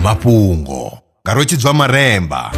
mafhungo nga rwetshidzwa maremba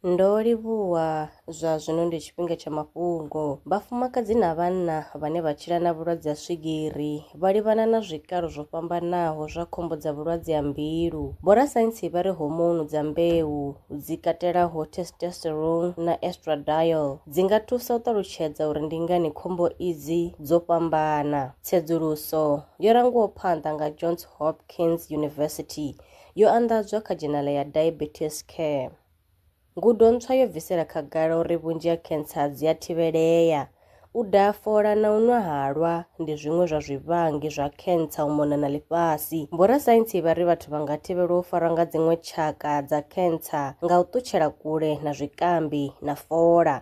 Ndo livhuwa zwa zwino ndi tshifhinga tsha mafhungo. Vhafumakadzi na vhanna vhane vha tshila na vhulwadze ha swigiri vha livhana na zwikalo zwo fhambanaho zwa khombo dza vhulwadze ha mbilu. Vhorasaintsi vha ri hormone dza mbeu, dzi katelaho testosterone na estradiol, dzi nga thusa u ṱalutshedza uri ndi ngani khombo idzi dzo fhambana. Tsedzuluso yo rangiwaho phanḓa nga Johns Hopkins University yo anḓadzwa kha dzhenala ya Diabetes Care. Ngudo ntswa yo bvisela khagala uri vhunzhi ha khentsa dzi a thivhelea. U daha fola na u nwa halwa ndi zwiṅwe zwa zwivhangi zwa khentsa u mona na ḽifhasi. Vhorasaintsi vha ri vhathu vha nga thivhelwa u farwa nga dziṅwe tshaka dza khentsa nga u ṱutshela kule na zwikambi na fola.